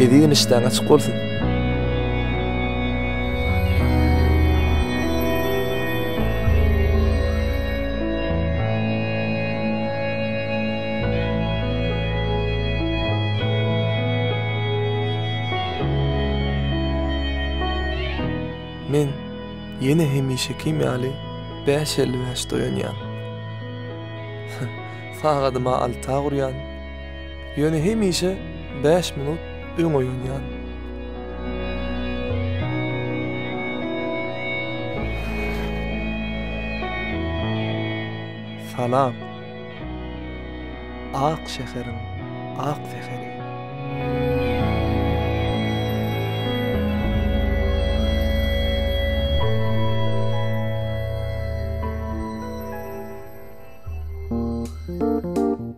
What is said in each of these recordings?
Ezigen işdäň açyk bolsun. Men ýene hemişekim ýaly bäş elli bäşde oýanýan. Sagadyma alta gurýan. Ýöne hemişe bäş minut öň oýanýan. Salam. Ak şäheriň ak säheri.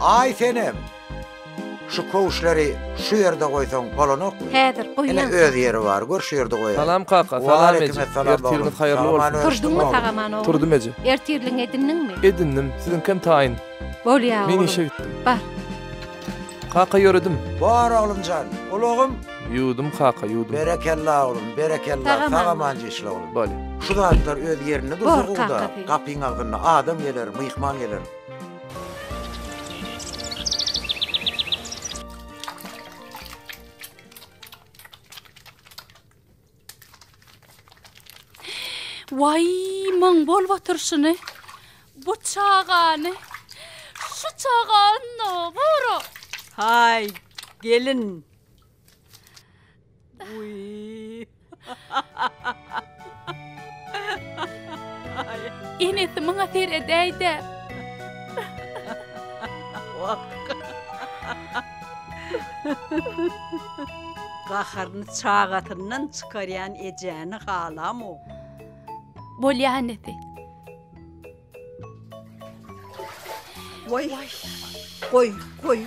Aý senem! Şu kowuşlary şu ýerde goýsaň bolanokmy? Häzir goýýan. Ine öz ýeri bar, gör şu ýerde goýaýyň. Salam kaka, salam eje. Ertiriňiz haýyrly bolsun. Turdyňmy sagaman oglan? Turdum eje. Ertirligiňi edindiňmi? Edindim, siziňkem taýyn. Bolýa oglan. Men işe gitdim. Bar. Kaka ýöredim. Bor oglumjan, ulagym. Ýuwdum kaka, ýuwdum. Berekella oglum, berekella, sag-aman işle oglum. Bolýa. Şu zatlar öz ýerinde dursa gowuda, gapyň agzynda adam geler, myhman geler. Waý, maň bolup oturşyny! Bu çagany Şu çaga ynha, gara! Haý, gelin! Enesi maňa seredäý-dä! Wah! Gaharyny çagasyndan çykarýan ejäni halamok. Bolýa enesi. Waý, goý, goý.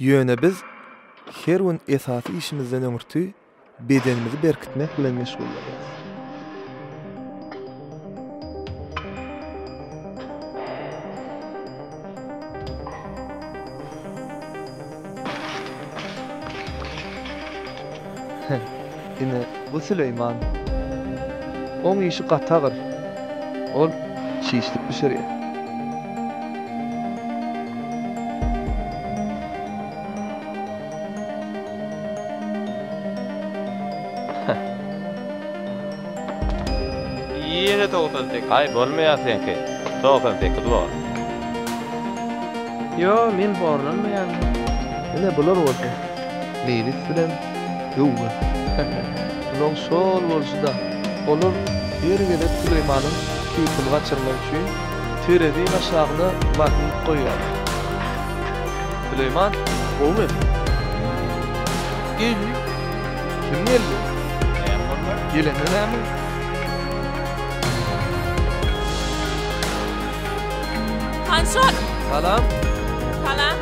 Ýöne biz her gün esasy işimizden öňürti bedenimizi berkitmek bilen meşgullanýarys. Ine, bu Süleýman. Oň işi gaty agyr. Ol çişlik bişirýär. Ýene togsan sekiz. Aý, bolmaýar seňki. Togsan sekiz bor. Ýo, men horlanmaýaryn. Ine, bular bolsa, Meýlis bilen Tüwwe, he-he, ulam şol bolşy-da, olar her gezek Süleýmanyň keýpini gaçyrmak üçin tereziniň aşagyna magnit goýýarlar. Süleýman, gowy edi. Eý, kim geldi? Näme boldy? Gelende näme? Hançol! Salam! Salam!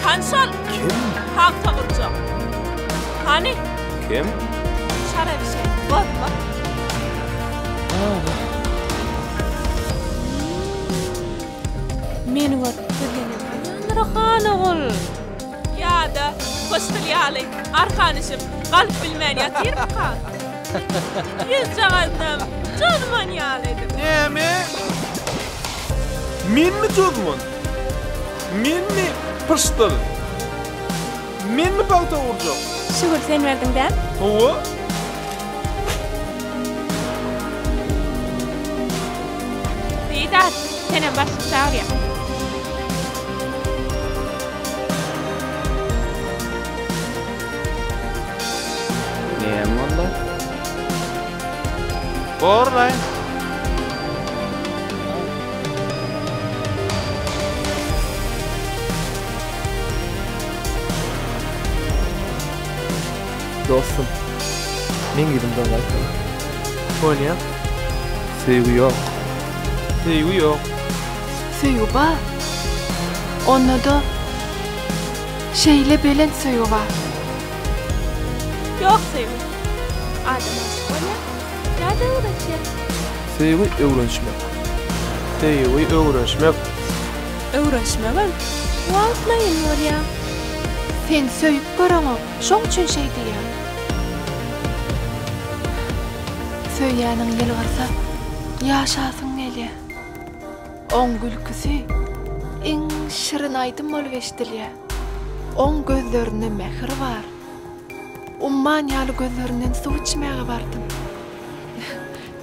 Hany şol? Kim? Pagta gurjak. Hany? Kim? Şara bir şey. Bor, bor. Meni görüp gülýän ýalydyr han ogul. Ýa-da kostyl ýaly arkan üşüp, galyp bilmän ýatyrmyka? Ýüzjagaznam jozman ýalydyr. Näme? Menmi jozman? Menmi pyşdyl? Menmi pagta urjak? Şükür sen berdiň däl. Hawa. Seýdat, senem başlyk çagyrýar. Näme boldy? Borlaý. Dostum, meň ýüzümden gaýtma. Sonya, Söýgi ýok. Söýgi ýok. Söýgi bar. Onda-da şeýle belent söýgi bar. Ýok söýgi. Adam aşyk bolýar. Söýgi öwrenişmek. Söýgi öwrenişmek. Öwrenişmegem wagtlaýyn bolýar. Sen söýüp göreňok, şoň üçin şeý diýýäň. Söýýäniň ýylgyrsa, ýaşasyň gelýär. Oň gülküsi iň şirin aýdym bolup eşidilýär. Oň gözlerinde mähir bar. Umman ýaly gözlerinden suw içmäge bardym.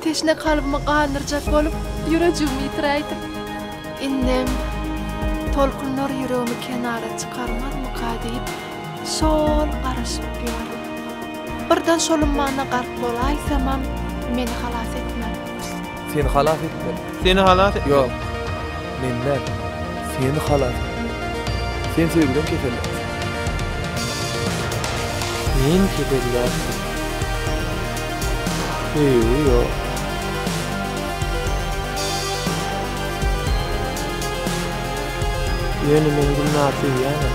Teşne kalbymy gandyrjak bolup, ýürejigimi ýitiräýdim. Indem tolkunlar ýüregimi kenara çykarmazmyka diýip, şo-ol garaşyp ýördüm. Birden şol ummana gark bolaýsamam, meni halas etmän. Seni halas etmeli. Seni halas etmeli. Ýok. Men däl. Seni halas etmeli. Sen söýgüden keselleňsiň. Sen keselläpsiň. Söýgi ýok. Ýöne men Gülnary söýýärin.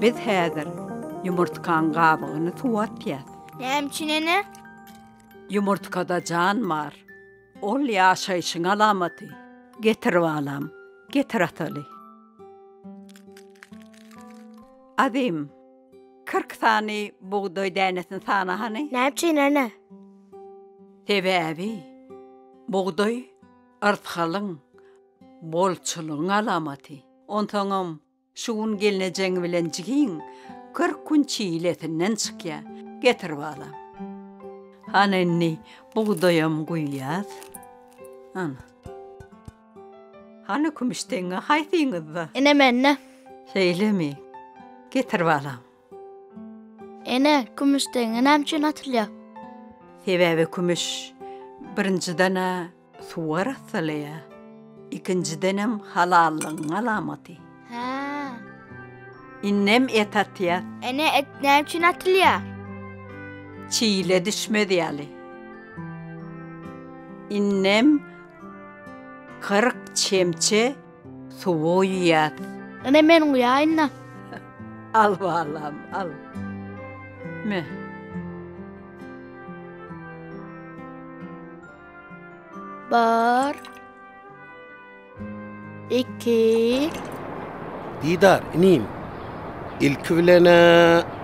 Biz häzir ýumurtkaň gabygyny suwa atýas. Näme üçin ene? Ýumurtkada jan bar. Ol ýaşaýşyň alamaty. Getir balam, getir ataly. Azym, kyrk sany bugdaý dänesini sana hany? Näme üçin ene? Sebäbi bugdaý yrsgalyň, bolçulygyň alamaty. Onsoňam Şu gün gelnejeň bilen jigiň kyrk gün çilesinden çykýa. Getir balam. Hany indi bugdaýam guýýas. Ana. Hany kümüş teňňe haýsyňyzda? Ine mende. Şeýlemi? Getir balam. Ene, kümüş teňňe näme üçin atylýar? Sebäbi kümüş, birinjiden-ä, suwy arassalaýar, ikinjidenem halallygyň alamaty. Hä. Indem et atýas. Ene, et näme üçin atylýar? Çile düşmez ýaly. Indem kyrk çemçe. Suwy iýýäs. Ine men guýaýyn-da. Al balam, al. Me. Bir. Iki. Didar, inim. Ilki bilen-ä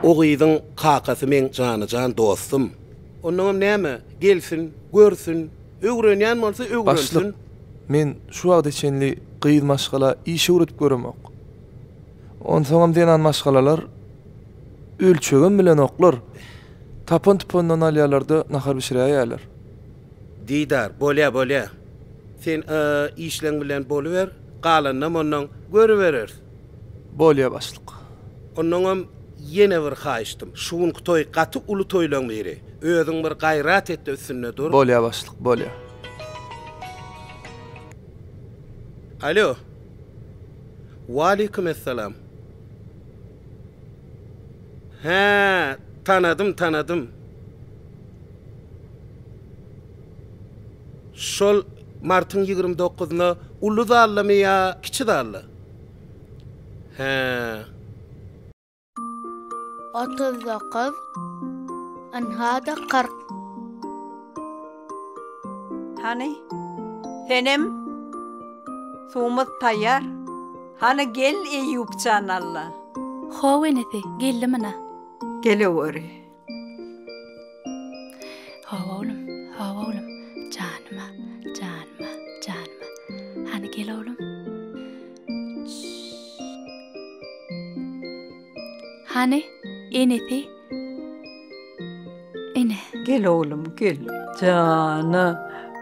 o gyzyň kakasy meň jana-jan dostum. Onnoňam näme, gelsin, görsün. Öwrenýän bolsa öwrensin. Başlyk, men şu wagta çenli gyz maşgala iş öwredip göremok. Onsoňam zenan maşgalalar ölçegem bilenoklar. Tapan-tupandan alýarlar-da nahar bişiräýýärler. Didar, bolýa, bolýa. Sen işleň bilen boluber, galanynam onnoň görübereris. Bolýa başlyk. Onnoňam ýene bir haýyştym. Şu günki toý gaty uly toýlaň biri. Özüň bir gaýrat etde üstünde dur. Bolýa başlyk, bolýa. Alo. Waleýkim essalam. Hä, tanadym, tanadym. Şol martyň ýigrimi dokuzyna uly zaldamy ýa kiçi zalda? Hää. Otuz dokuz, ynha-da kyrk. Hany, senem? Suwumyz taýýar. Hany, gel, Eýýup jan, Alla. Haw, inisi, geldim ina. Geleweri. Hawa oglum, hawa oglum, janyma, janyma, janyma. Hany gel oglum. Hany enesi? Ene. Gel oglum, gel. Jana.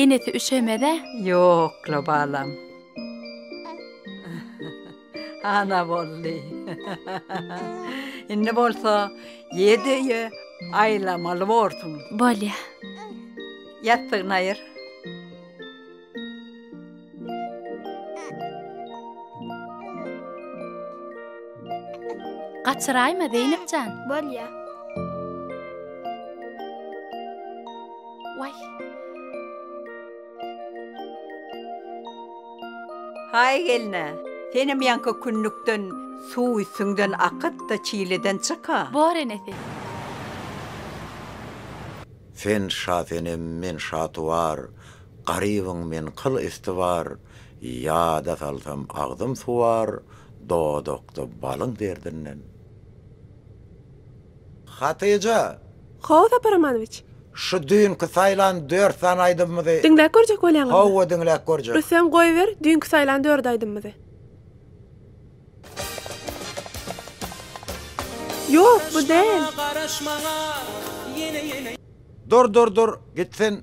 Enesi üşemez-ä? Ýok-la, balam. Ana boldy. Indi bolsa ýedi öýe aýlamaly borsuň. Bolýa. Ýassygyny aýyr. Gaçyraýma Zeýnep jan. Bolýa. Waý. Haý gelne, senem ýanka künnükden suw üstüňden akyt-da çileden çyk-a. Bor enesi. Sen Şasenem, men Şatuwar, Garybyň men kyl üsti bar, Ýada salsam agzym suwar, Dodakda balyň derdinden. Hatyja! How, Sapar Amanowiç! Şu düýnki saýlan dört sany aýdymymyzy. Diňläp görjek bolýaňyzmy? Hawa, diňläp görjek. Rüstem, goýber, düýnki saýlan dört aýdymymyzy. Ýok, bu däl. Dur, dur, dur, git sen.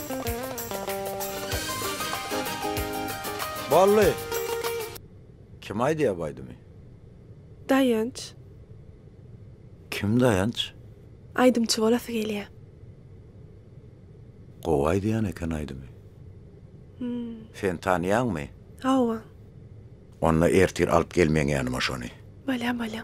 Bolly! Kim aýdýar bu aýdymy? Daýanç. Kim Daýanç? Aýdymçy bolasy gelýä. Gowy aýdýan eken aýdymy. Hum. Sen tanýaňmy? Hawa. Onda ertir alyp gel meň ýanyma şony. Bolýa bolýa.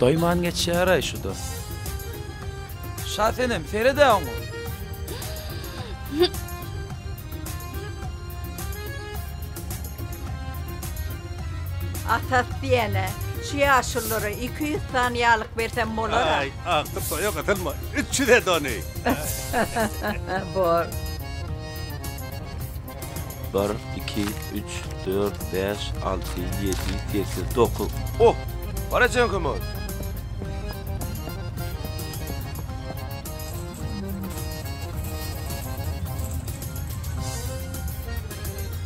Doýman geçýär-aý şu-da. Şa senem, sered-ä oňa. Atat diýen-ä, şu ýaşulylara iki ýüz sany ýaglyk bersem bolar-a. Aý, akyr toýa gytylma, üç ýüz et ony. Bor. Bir, iki, üç, dört, bäş, alty, ýedi, sekiz, dokuz. O! Bar ejeň kim ol?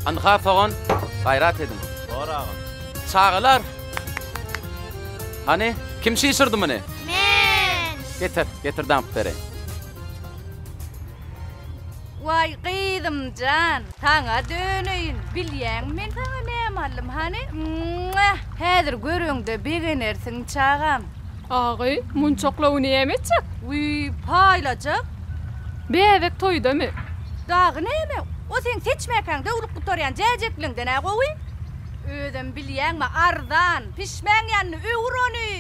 Anha sogan, gaýrat ediň. Bar agam. Çagalar! Hany, kim şişirdi muny? Men! Getir, getir damp bereýin. Waý gyzymjan saňa döneýin bilýäňmi men saňa näme aldym hany Mwah häzir göreňde begenersiň çagam. Agy munçaklawy näme etjek? Wiý paýlajak. Bäbek toýdamy? Dagy näme o seň seçmäkäň döwlüp gutarýan jäjekliňden-ä gowy. Özem bilýäňmi arzan pişmäň ýanyny öwür ony.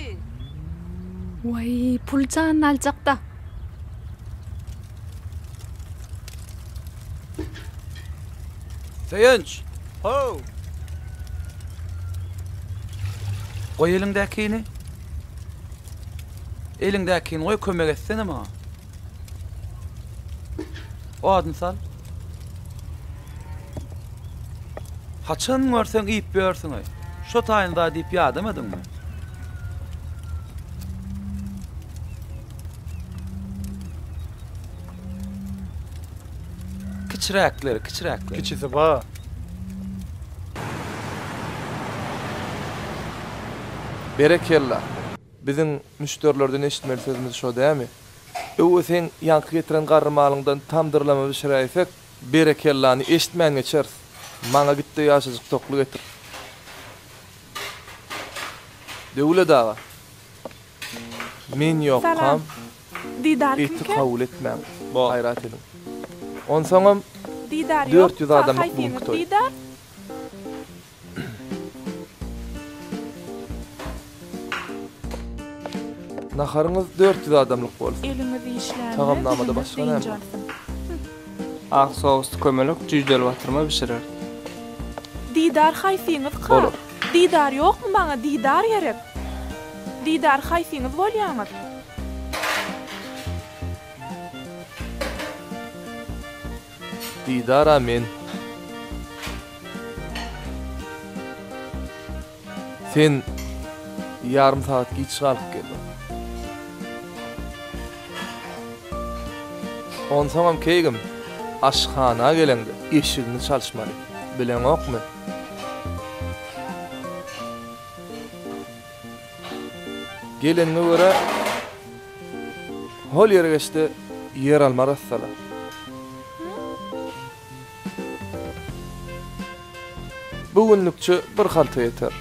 Waý pul janyny aljakda. Söýenç! How! Goý eliňdäkini. Eliňdäkini goý kömek etsene maňa. Odun sal. Haçan görseň iýip ýörsüňeý. Şo taýyny daýy diýip ýadamadyňmy? Kiçiräkleri, kiçiräkleri. Kiçisi ba. Berekella. Biziň müşderilerden eşitmeli sözümiz şo dämi? Öwez seň ýaňky getiren garry malyňdan tam dyrlama bişiräýsek. Berekellany eşitmän geçeris. Maňa gitde ýaşajyk tokly getir. Döwlet aga. Men ýokkam. Eti kabul etmäň. Gaýrat ediň. Onsaňam dört ýüz adamlyk bugunky toý. Naharyňyz dört ýüz adamlyk bolsun. Eliňiz işlände Tagamnamada başga näme bar? Ak sously kömelek jüýjeli batyrma bişirerdi. Didar haýsyňyz ka? Bolar. Didar ýokmy maňa Didar gerek. Didar haýsyňyz bolýaňyz? Didara men Sen ýarym sagat giç galyp geldiň. Onsoňam keýgim aşhana geleňde eşigiňi çalyşmaly. Bileňokmy? Gelenine görä, hol ýere geçdi ýeralma arassalar. Bu günlükçe bir halta ýeter.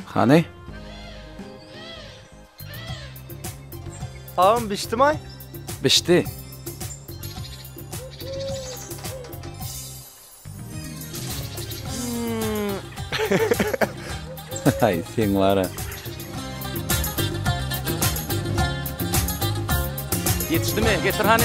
Hany? Agam bişdi mi? Bişdi. Hay sen var ha. Yetişdi mi? Getir hani.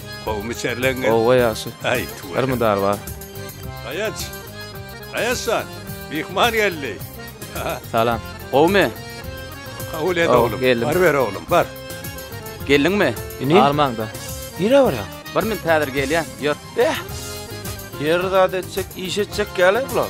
Gowmy çerleň? Gowa ýagşy. Aý tuwa. Bar mydar bar. Aýaç. Aýaçjan. Myhman geldi. Salam. Gowmy? Kabul et oglum. Bar ber oglum bar. Geldiňmi? Ine. Almaňda. Nirä barýaň? Bir minut häzir gelýän. Ýör. Beh. Her zat etjek, iş etjek ýaly bular.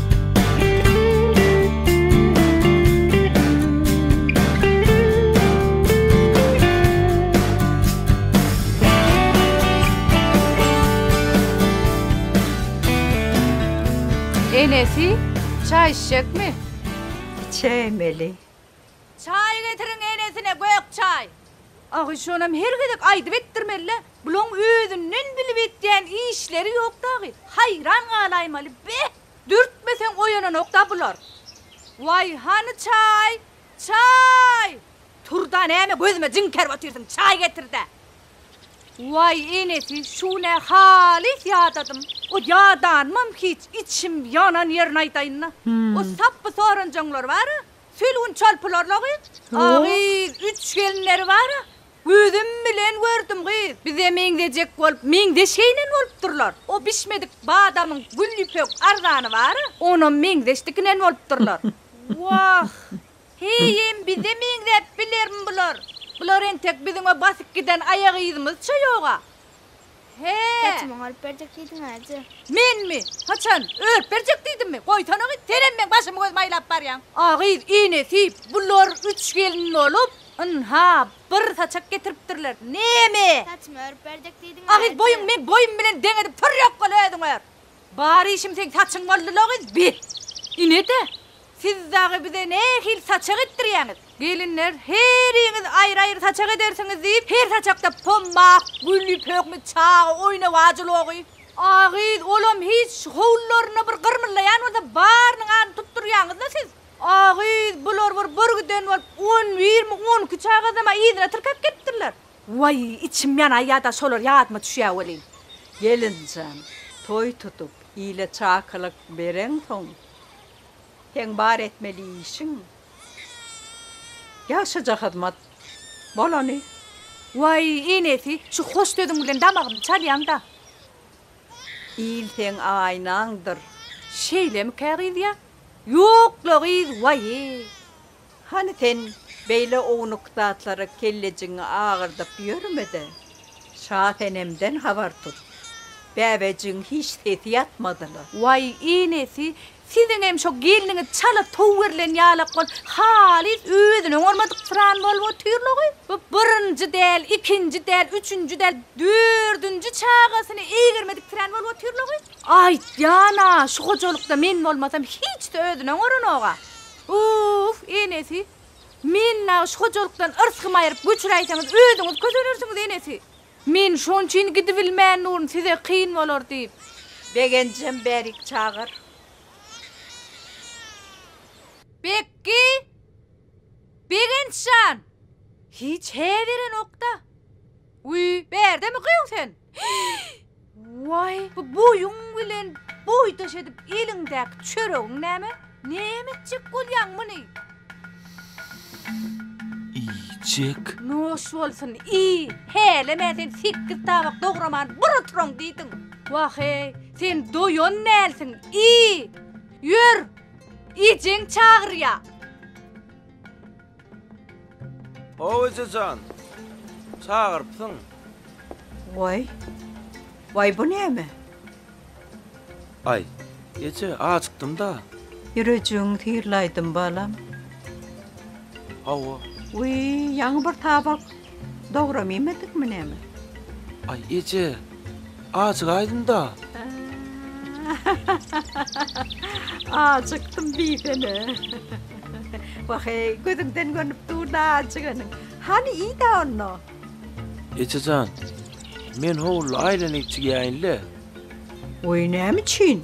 Enesi, çaý içjekmi? Içeýmeli. Çaý getiriň enesine gök çaý. Agy şonam her gezek aýdyp etdirmelä, bulaň özünden bilip etýän işleri ýok dagy, haýran galaýmaly, be! Dürtmeseň oýananokda bular. Waý, hany çaý, çaý! Turda näme gözüme jiňkerip otyrsyň, çaý getirdä! Waý, enesi, şu nä halys ýadadym. O ýadanymam hiç, içim ýanan ýerini aýdaýynda. O sapby soranjaňlar bar-a, Sülgün çalpylarla-gyz, a-gyz, üç gelinleri bar-a, gözüm bilen gördüm, gyz, bize meňzejek bolup, meňzeş geýnen bolupdyrlar. O bişmedik badamyň gül ýüpek arzany bar-a, onam meňzeş dikinen bolupdyrlar. Wah, heý-em bize meňzäp bilermi bular? Bular entek biziň o basyp giden aýagyzymyzça ýog-a. He. Saçymy oňaryp berjek diýdiň äje. Menmi? Haçan? Örüp berjek diýdimmi? Goýsana-gyz, senem meň başymy göz maýlap barýaň. A gyz, inesip, bular üç gelin bolup, ynha, bir saçak getiripdirler. Näme? Saçymy örüp berjek diýdiň äje. A gyz, boýuňy meň boýum bilen deň edip tur ýok bol, özüň ör. Bar işim seň saçyň boldy-la gyz, bi! Ine-de, siz dagy bize nähili saçak etdirýäňiz? Gelinler, heriňiz aýry-aýry saçak edersiňiz diýip, her saçakda pommak, gül, pöhme, çaga, oýna wajy logy. A gyz, olam hiç, howlularynda bir gyrmyldaýan bolsa, barynyň adyny tutdurýaňyz-la siz. A gyz, bular bir bir giden bolup, on birmi, on iki çagazam-a yzyna tirkep gelipdirler. Waý, içim ýanaý ýa-da şolar ýadyma düşýä welin. Gelinjan, toý tutup, ile çakylyk bereňsoň, seň bar etmeli işiň, ýagşyja hyzmat bolany. Waý, enesi, şu hoş sözüň bilen damagymy çalýaň-da. Il seň aýnaňdyr. Şeýlemikä gyz ýa? Ýok-la gyz, waý. Hany sen beýle ownuk zatlara kellejigiňi agyrdyp ýörme-de, Şasenemden habar tut. Bäbejigiň hiç sesi ýatmady-la. Waý, enesi, siziňem şo gelniňiz çala tow berlen ýalak bolup, halys özüni oňarmadyk syran bolup otyr-la-oý. Bu birinji däl, ikinji däl, üçünji däl, dördünji çagasyny eýgermedik syran bolup otyr-la-oý. Aýtýan-a, şu hojalykda men bolmasam, hiç-de özüni oňaranok-a. Uff, enesi, meni nagy şu hojalykdan yrsgym aýryp göçüräýseňiz, özüňiz kösenersiňiz, enesi. Men şon üçin gidibilmän durun, size kyn bolar diýip. Begenjem, bärik çagyr. Bekgi! Begenç jan! Hiç hä berenok-da. Wiý, bärdemi gyýw sen? Waý, bu boýuň bilen boýdaş edip eliňdäki çöregiň näme? Näme etjek bolýaň muny? Iýjek. Noş bolsun, iý! Hälem-ä sen sekiz tabak dograman bir oturan diýdiň. Wah-eý, sen doýan dälsiň, iý! Ýör, ejeň çagyrýar. How ejejan. Çagyrypsyň. Waý. Waý bu näme? Aý. Eje, ajykdym-da. Ýürejigiň syrlaýdym balam. Hawa. Wiý, ýaňy bir tabak. Dogram iýmedikmi näme? Aý eje, ajygaýdym-da. Ajykdym diýsene. Wah-eý, gözüňden görnüp dur-da ajyganyň. Hany iý-dä onda. Eje jan, men howluda aýlanyp çigýäýin-le. Oý, näme üçin?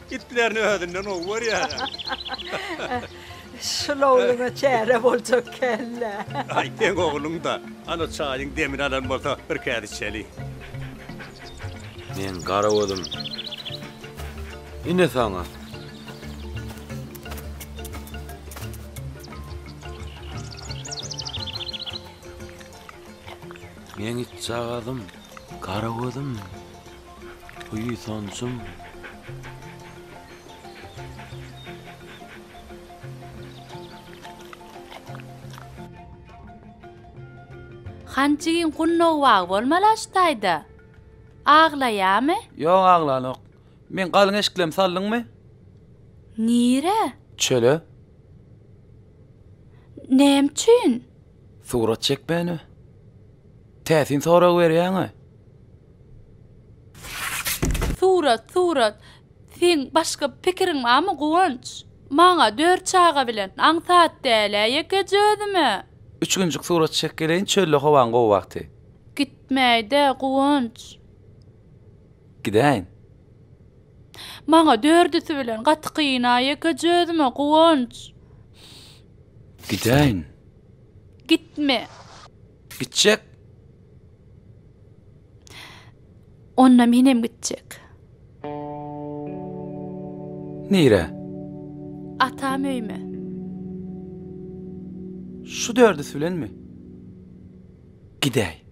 Itlerini özünden gowy görýärä. Şul ogluňa çäre boljak kellä. Aý seň ogluň-da. Ana çaýyň demini alan bolsa bir käse içeli. Meň gara gözüm. Ine saňa. Meň itjagazym, gara gözüm. Buýsanjym. Han jigin gunnow bagy bolmala şu taýda. Aglaýamy? Ýok aglanok. Meň galyň eşiklemi saldyňmy? Nire? Çöle. Näme üçin? Surat çekmäne. Täsin sorag berýäňä. Surat, surat. Seň başga pikiriň barmy, Guwanç? Maňa dört çaga bilen, aňsat däl-ä ýekeje özüme. Üç günjük surat çek geleýin, çölde howaň gowy wagty. Gitmäý-dä, Guwanç. Gidäýin. Maňa dördüsi bilen gaty kyn-a ýekeje özüme, Guwanç. Gidäýin. Gitme. Gitjek. Onda menem gitjek. Nire? Atam öýme. Şu dördüsi bilenmi? Gidäý.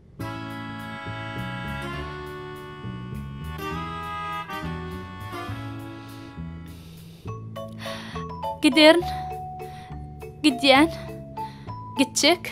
Giderin. Gidýän. Gitjek.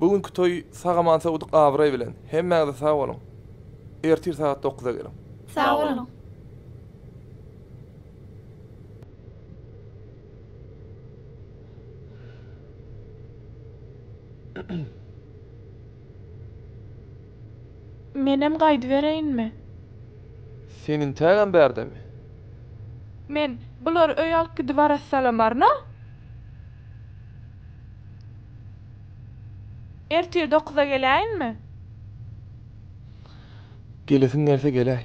Bu günki toý sag-aman sowudyk abraý bilen. Hemmäňize sag boluň. Ertir sagat dokuzda geliň. Sag boluň. Menem gaýdybereýinmi? Sen intägem bärdemi? Men, Bulary öýe alyp gidip arassalamaryn-a. Ertir dokuza geläýinmi? Gelesiň gelse geläý.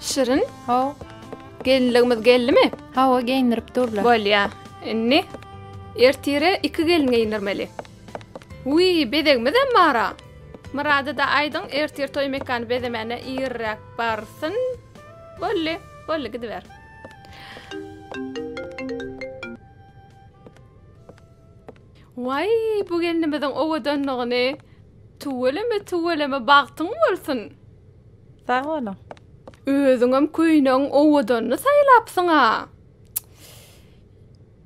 Şirin. Haw. Gelinligimiz geldimi? Hawa, geýindirip durlar. Bolýa. Indi ertire iki gelin geýindirmeli. Uý, bezegimiz hem bara. Myrada da aýdyň, ertir toý mekany bezemäne irräk barsyn. Bolly, bolly gidiber. Waý, bu gelnimiziň owadanlygyny tüweleme, tüweleme, bagtyň bolsun! Sag boluň. Özüňem köýnegiň owadanyny saýlapsyň-a.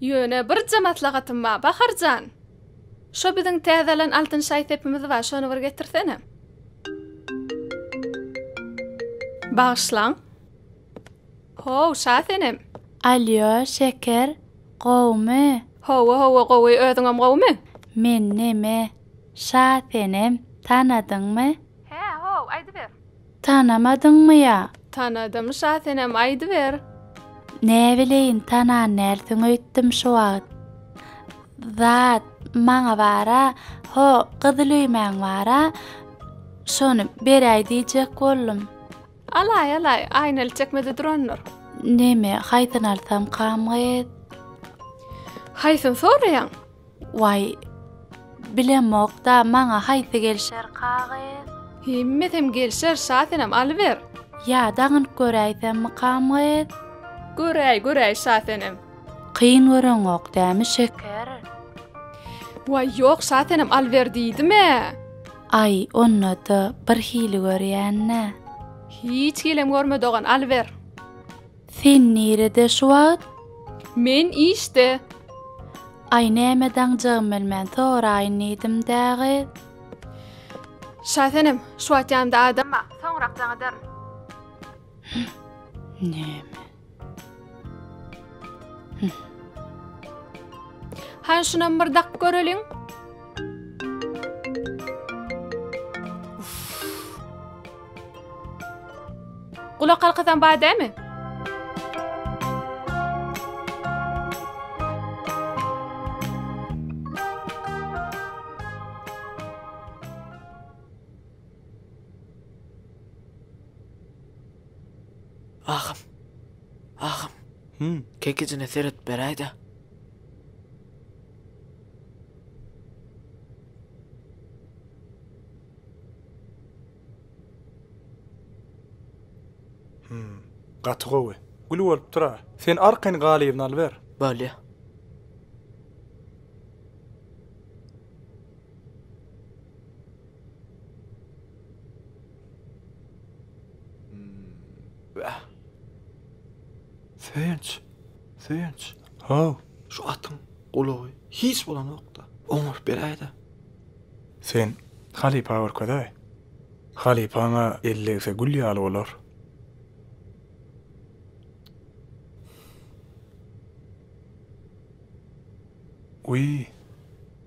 Ýöne birje maslahatym bar, Bahar jan. Şo biziň täze alan altyn şaý sepimiz bar, şony bir getirsene. Bagyşlaň. How, Şasenem! Alýo, şeker, gowumy? Hawa, hawa, gowy. Özüňem gowumy? Men neme, Şasenem, tanadyňmy? Hä, how, aýdyber. Tanamadyňmy ýa? Tanadym, Şasenem, aýdyber. Näbileýin, tanan dälsiň öýtdüm şu wagt. Zat, maňa bar-a, ho, gyzyl öýmäň bar-a, şony beräý diýjek boldum. Alaý, alaý, aýnaly çekmede durandyr. Neme, haýsyny alsam, kamget? Haýsyny soraýaň? Waý, bilemok-da, maňa haýsy gelşer, kaget? Hemmesem gelşer, şa senem alyber. Ýa dagynyp göräýsemmi, kamget? Göräý, göräý, şa senem. Kyn göreňok dämi şeker? Waý ýok şasenem alber diýdimä. Aý onda-da bir hili görýän-ä. Hiç hilem görme dogan alber. Sen nirede şu wagt? Men işde. Aý näme daňjagym bilmän soraýyn diýdim dägy. Şasenem şu wagt ýanymda adam bar soňrak daň ederin. Näme? Han şunam bir dak göreliň. Gulak halkasan bar dämi? Agam. Agam. Hü. Kekijine seret beräýdä. Hü. Gaty gowy. Gül bolupdyr-a. Sen arkaýyn galybyny alyber. Bolýa. Wah. Söýenç. Söýenç. Haw. Şu atyň gulagy hiç bolanokda. Oňup beräýdä. Sen halypa görkezäý. Halypaňa ellegse gül ýaly bolar. Uý.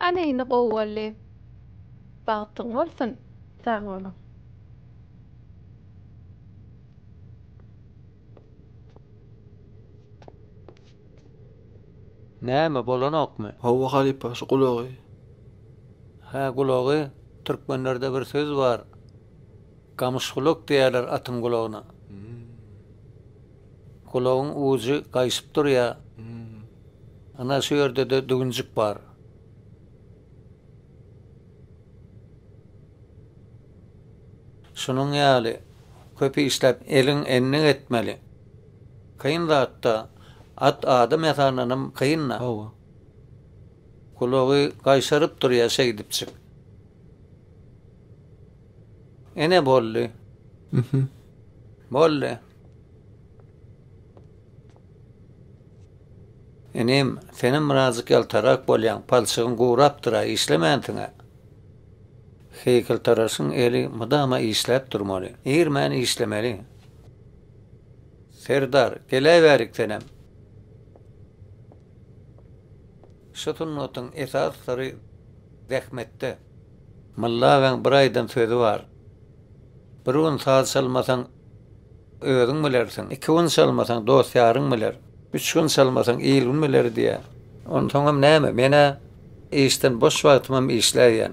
Ana indi gowy boldy. Bagtyň bolsun. Sag boluň. Näme bolanokmy? Howwa halypa şu gulagy. Hä gulagy, türkmenlerde bir söz bar, Gamyşgulak diýerler atyň gulagyna. Gulagyň ujy gaýşyp durýar. Ana şu ýerde-de düwünjik bar. Şunuň ýaly köp işläp elin endik etmeli. Kyn zat-da. At adam ýasandanam kyn-da. Hawa. Gulagy gaýşaryp durýar şeýdipjik. Ene boldy. Mhm. Boldy. Enem, senem birazjyk ýaltarak bolýaň, palçygyň gurapdyr-a, işlemänsiň-ä. Heýkeltaraşyň eli mydama işläp durmaly, irmän işlemeli. Serdar, geläýbärik senem. Şu sungatyň esas syry zähmetde. Molla agaň bir aýdan sözi bar, Bir gün saz çalmasaň özüň bilersiň, iki gün çalmasaň dost-ýaryň biler, üç gün çalmasaň il-gün biler diýýär. Onsoňam näme, men-ä işden boş wagtymam işläýýän.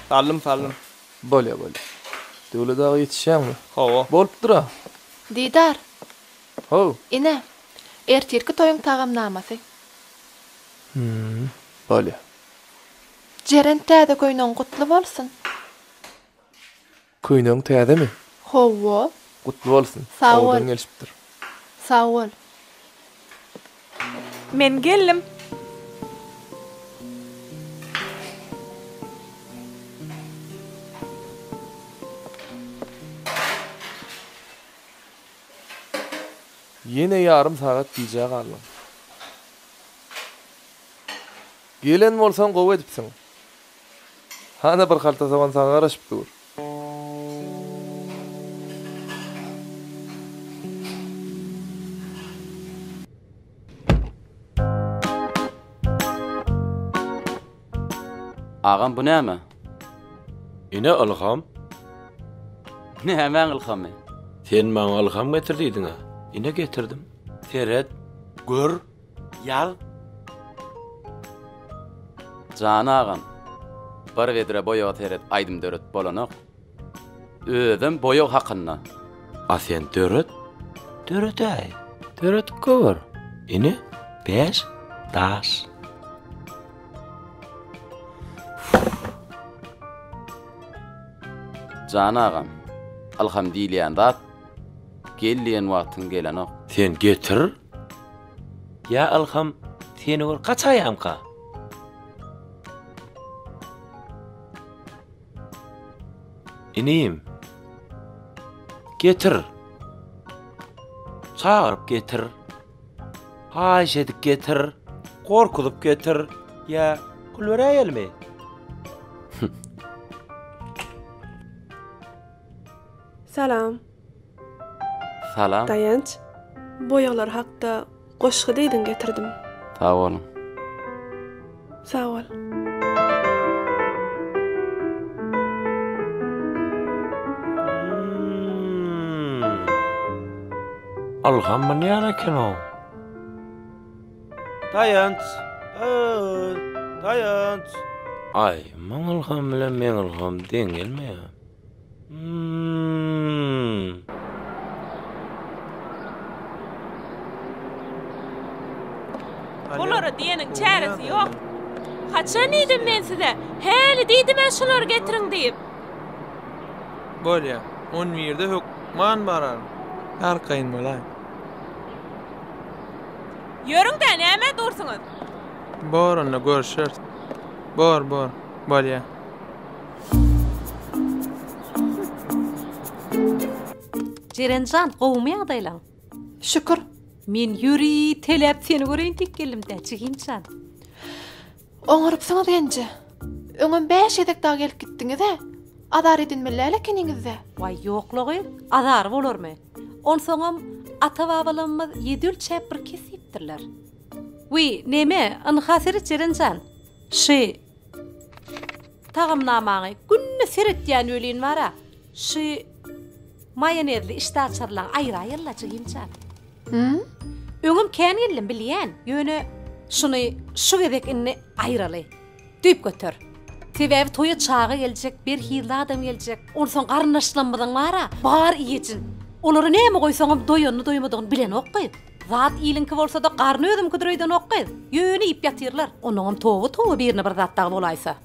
Saldym, saldym. Bolýar, bolýar. Döwlet aga ýetişýäňmi? Hawa. Bolupdyr-a. Didar. How. Ine, ertirki toýuň tagamnamasy. Hüm, bolýar. Jeren täze köýnegiň gutly bolsun. Köýnegiň täzemi? Howwo. Gutly bolsun. Sag bol. Owadan gelşipdir. Sag bol. Men geldim. Ýene ýarym sagat gijä galdyň. Gelen bolsaň gowy edipsiň. Hana bir halta sogan saňa garaşyp dur. Agam bu näme? Ine ylham. Nämäň ylhamy? Sen maňa ylham getir diýdiň-ä. Ine getirdim. Seret, gör. Ýal. Jan agam, bir vedre boýaga seret aýdym döredip bolanok. Özem boýag hakynda. A sen döret. Döretäý. Döredip gör. Ine, bäş daş. Jan agam, ylham diýilýän zat gel diýen wagtyň gelenok. Sen getir. Ýa Ylham, seni gör gaçaýamka. Inim. Getir. Çagyryp getir. Haýyş edip getir. Gorkuzyp getir. Ýa pul beräýelmi? Salam. Salam. Daýanç, boýaglar hakda goşgy diýdiň getirdim. Sag boluň. Sag bol. Mmm. Ylham bu näme ekenow? Daýanç. Aý. Daýanç. Aý, muň ylham bilen meň ylham deň gelmeýär. Olara diýeniň çäresi ýok. Haçan diýdim men size? Häli diýdim men şulary getiriň diýip. Bolýa. 11-de hökman barar. Arkaýyn bolaý. Ýörüň-de, nämä dursuňyz? Bor onda görüşeris. Bor, bor. Bolýa. Jerenjan gowumy ýagdaýlaň? Şükür. Men ýöri teläp seni göreýin diýip geldim-dä, jiginjan. Oňarypsyňyz genje. Öňem bäş gezek dagy gelip gitdiňiz-ä. Azar edinmeli-ä ekeniňiz-dä. Waý, ýoklugy, azary bolarmy? Onsoňam, ata-babalarymyz ýedi ölçäp bir kes diýipdirler. Wiý, neme, ynha seret Jerenjan. Şi. Tagamnamaňy günde seretýän welin bara şy maýonezli işdäaçarlaň aýyraýylla jigim jan. Hum. Öňem kän geldim bilýän, ýöne şuny şu gezek indi aýyraly. Düýp göter. Sebäbi toýa çaga geljek, berhizli adam geljek. Onsoň garyndaşlamyzyň bara bar iýejin. Olara näme goýsaňam doýanyny doýmadygyny bilenok goý. Zat iliňki bolsada garny özüňkidir öýdenok gyz. Ýöne iýip ýatyrlar. Onuňam toba toba birine bir zat dagy bolaýsa.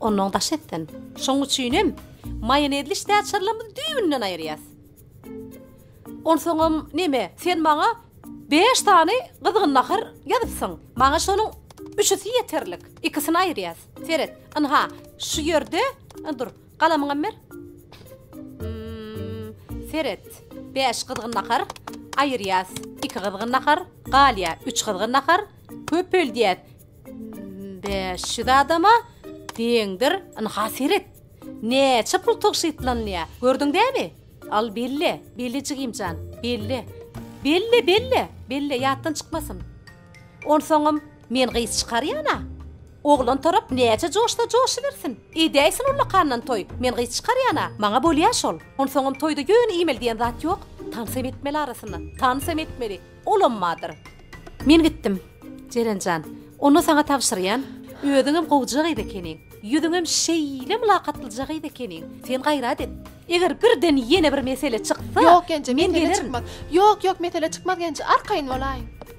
Onnoň daş etsin. Şoň üçinem maýonezli ştäçarlarymyzy düýbünden aýyrýas. Onsoňam neme sen maňa bäş sany gyzgyn nahar ýazypsyň. Maňa şonuň üçüsi ýeterlik. Ikisini aýyrýas. Seret. Ynha, şu ýerde, dur. Galamyňam ber. Hmmmm. Seret. Bäş gyzgyn nahar. Aýyrýas. Iki gyzgyn nahar. Galýa. Üç gyzgyn nahar. Köpeldýäs. Bäş ýüz adama deňdir. Ynha seret. Näçe pul tygşytlanylýar. Gördüň dämi? Al belle. Belle jigimjan. Belle. Belle, belle. Belle, ýatdan çykmasyn. Onsoňam. Men gyz çykarýan-a. Oglan tarap näçe joşsa joşubersin. Edäýsin ullakandan toý. Men gyz çykarýan-a. Maňa bolýa şol. Onsoňam toýda ýöne iýmeli diýen zat ýok. Tans hem etmeli arasynda. Tans hem etmeli. Olam bardyr. Men gitdim. Jeren jan, onda saňa tabşyrýan. Özüňem gowja gyz ekeniň. Ýüzüňem şeýle mylakatlyja gyz ekeniň. Sen gaýrat et. Eger birden ýene bir mesele çyksa, men gelerin. Ýok, Genje, mesele çykmaz. Ýok, ýok, mesele çykmaz, Genje. Arkaýyn bolaýyň.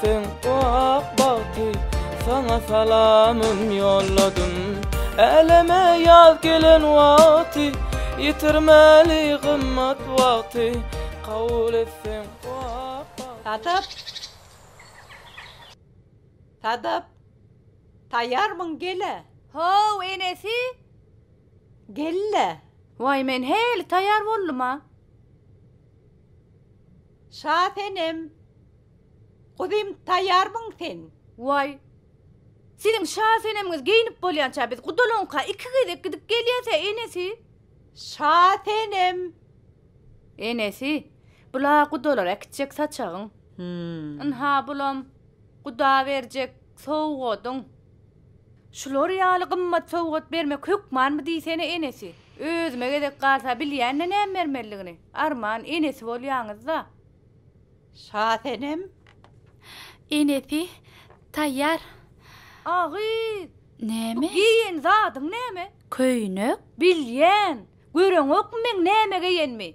Sen ak bagty saňa salamym ýolladym Äleme ýaz gelen wagty Ýitirmeli gymmat wagty Kabul et sen bu ak bagty Sadap! Sadap! Taýýarmyň gel-ä! How, enesi! Gel-le! Waý, men heli taýýar boldum-a! Şasenem! Guzym taýýarmyň sen? Waý, siziň şa senemiňiz geýnip bolýança biz gudalygyňka iki gezek gidip gelýäs-ä, enesi. Şa senem. Enesi, bul-a gudalar äkitjek saçagyň. Hüm. Ynha, bulam guda berjek sowgadyň. Şular ýaly gymmat sowgat bermek hökmanmy diýsene, enesi. Özüme gezek galsa bilýän-de näme bermelidigini. Arman enesi bolýaňyz-da. Şasenem, Enesi taýýar. A gyz, bu geýen zadyň näme? Köýnek. Bilýän. Göreňokmy meň näme geýenimi?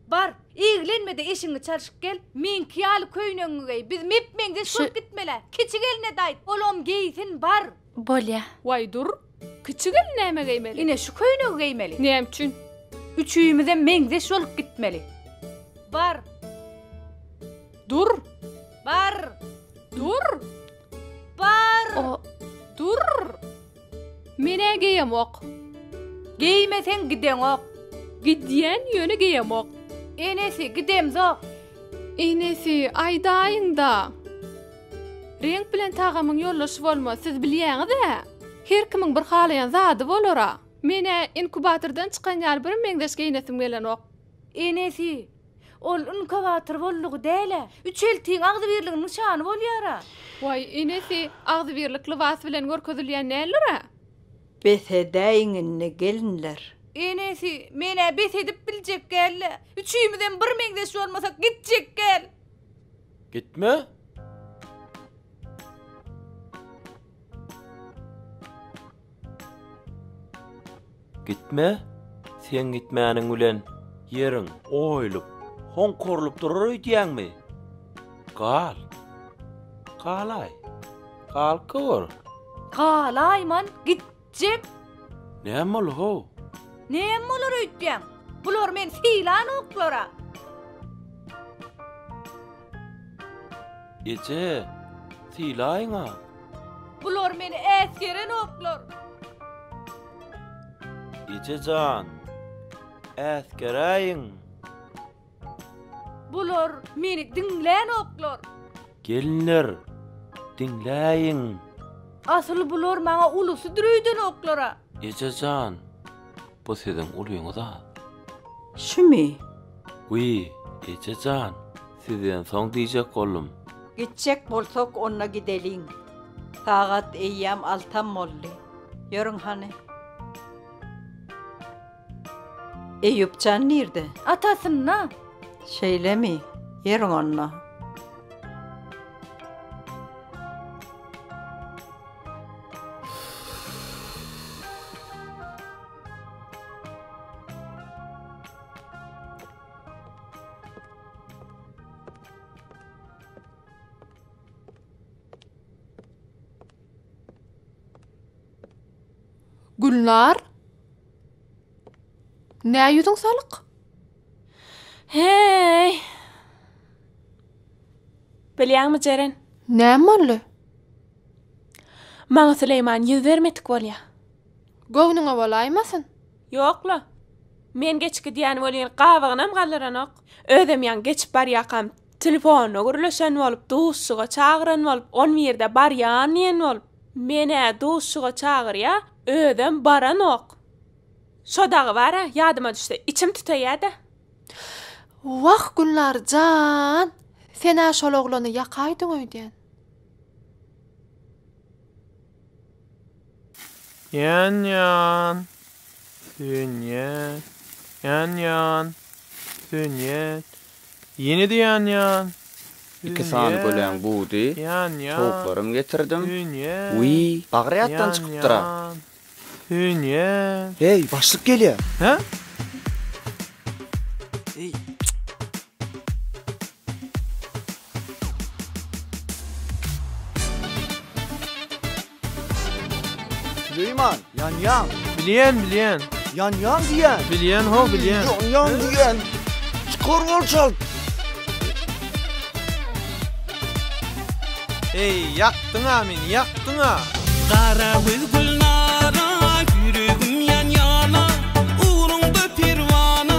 Bar, eglenme-de eşigiňi çalşyp gel, meňki ýaly köýnegiňi geý. Biz mep-meňzeş bolup gitmel-ä. Kiçi gelnedaýt, olam geýsin, bar! Bolýa. Waý, dur, Kiçi gelin näme geýmeli? Ine şu köýnegi geýmeli. Näme üçin? Üçüýmizem meňzeş bolup gitmeli. Bar. Dur. Bar. Dur. Bar. O. Dur. Men-ä geýemok. Geýmeseň gideňok. Gidýän ýöne geýemok. Enesi, gidemzok. Enesi, aýdaýyň-da. Reňk bilen tagamyň ýoldaşy bolmaz, siz bilýäňiz-ä? Her kimiň bir halaýan zady bolar-a. Men-ä inkubatordan çykan ýaly birmeňzeş geýnesim gelenok. Enesi, ol inkubator boldugy däl-ä. Üçeltiň agzybirligiň nyşany bolýar-a. Waý, enesi, agzybirlik lybas bilen görkezilýän däldir-ä. Bes edäýiň indi, gelinler. Enesi, men-ä bes edip biljek gäl-le. Üçümizem birmeňzeş bolmasak gitjek gäl. Gitme. Gitme. Sen gitmäniň bilen ýeriň oýlup, honkorlup durar öýdýäňmi? Gal. Galaý. Galka gör. Galaýman, git. Jek! Näme boldy how? Näme bolar öýtýäň? Bular men sylan oklara. Eje, sylaýyň-a. Bular meni äsgeren oklar. Eje jan, äsgeräýiň. Bular meni diňlänoklar. Gelinler, diňläýiň. Asyl bular maňa ulusydyr öýdenoklar-a. Eje jan, bu siziň ulyňyz-a. Şümi? Wiý, eje jan, sizden soň diýjek boldum. Gitjek bolsak, onda gideliň. Sagat eýýäm altam boldy. Ýörüň hany. Eýýup jan nirde? Atasynda. Şeýlemi? Ýeriň onda. Gülnar? Nä ýüzüň salyk? Heý! Bilýäňmi, Jeren? Näme boldy? Maňa Süleýman ýüz bermedik bolýar. Göwnüňe bolaýmasyn? Ýok-la. Men geçip gidýän welin gabygynam galdyranok. Özem ýaňy geçip barýakam Telefona gürleşen bolup, duşuşyga çagyran bolup, on birde barýan diýen bolup, men-ä duşuşyga çagyrýa, özem baranok. Şo dagy bar-a, ýadyma düşse, içim tütäýä-dä. Wah, Gülnar jan, sen-ä şol oglany ýakaýdyň öýdýän. Ýan ýan. Dünýä. Ýan ýan. Dünýä. Ýene-de ýan ýan. Iki sany göläň budy, towuklaryň getirdim. Wiý, bagry ýatdan çykypdyr-a. Dünýä. Heý, başlyk gelýär. Hä? Süleýman, ýanýaň! Bilýän, bilýän. Ýanýaň diýýän! Bilýän, ho, bilýän. Ýanýaň diýýän! Çykar ol çalt! Eý, ýakdyň-a meni, ýakdyň-a! Gara güz gülnara, ýüregim ýan-ýana, ugruňda perwana.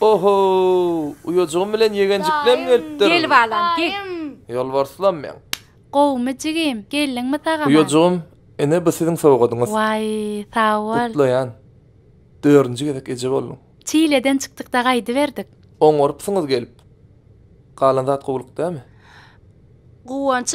Ohow! Uýajygym bilen ýegenjiklerim gelipdir. Gel balam, gel. Ýolbarslam meň. Gowumy jigim, geldiňmi sag-aman? Uýajygym, ine bu siziň sowgadyňyz. Waý, sag bol. Gutlaýan. Dördünji gezek eje bolduň. Çileden çykdyk-da gaýdyberdik. Oňarypsyňyz gelip. Galan zat gowulyk dämi? Guwanç.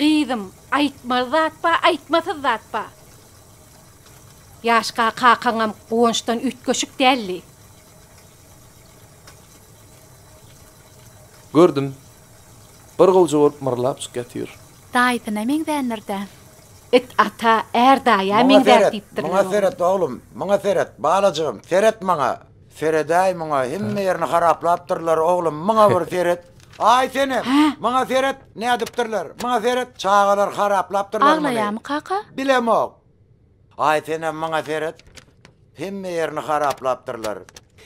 Gyzym, aýtmaly zat ba, aýtmasyz zat ba. Ýaşka kakaňam guwançdan üýtgeşik däldi. Gördüm. Bir gowja bolup myrlapjyk ýatyr. Daýysyna meňzändir-dä. It ata, är daýa meňzär diýipdirler oglum. Muňa seret, muňa seret oglum, muňa seret, balajygym, seret muňa. Seredäý muňa, hemme ýerini haraplapdyrlar oglum, muňa bir seret. Aý senem, muňa seret, nädipdirler, muňa seret, çagalar haraplapdyrlar muny. Aglaýamy kaka? Bilemok. Aý senem maňa seret. Hemme ýerini haraplapdyrlar.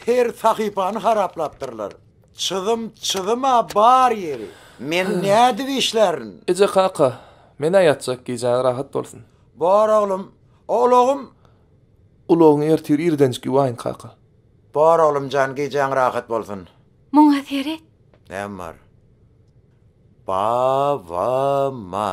Her sahypany haraplapdyrlar. Çyzym çyzym-a bar ýeri. Men nädip işlärin? Eje kaka, men-ä ýatjak, gijäňiz rahat bolsun. Bar oglum, a ulagym? Ulagyňy ertir irdenjik ýuwaýyn kaka. Bar oglum jan, gijäň rahat bolsun. Muňa seret. Näme bar? Ba-ba-ma.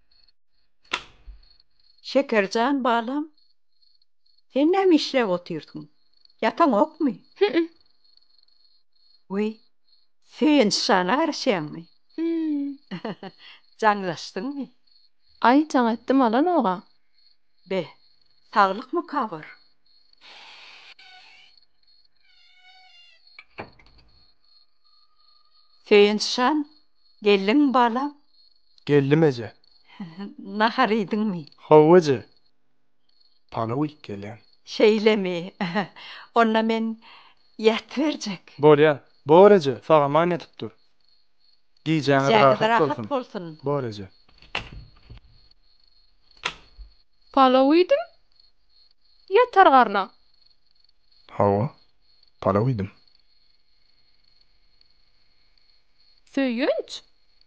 Şekerjan balam, sen näme işläp otyrsyň? Ýataňokmy? Hü-ü. Weý, Söýenç jana garaşýaňmy? Hü-ü. Jaňlaşdyňmy? Aý, jaň etdim alanoga. Be, saglykmy kabyr? Söýenç jan, geldiňmi balam? Geldim eje. Nahar iýdiňmi? Hawa eje. Palaw iýip gelýän. Şeýlemi? Onda men ýatyberjek. Bolýa. Bor eje, sag-aman ýatyp dur. Gijäňiz rahat bolsun. Bor eje. Palaw iýdim. Ýatar garna. Hawa. Palaw iýdim. Söýünç,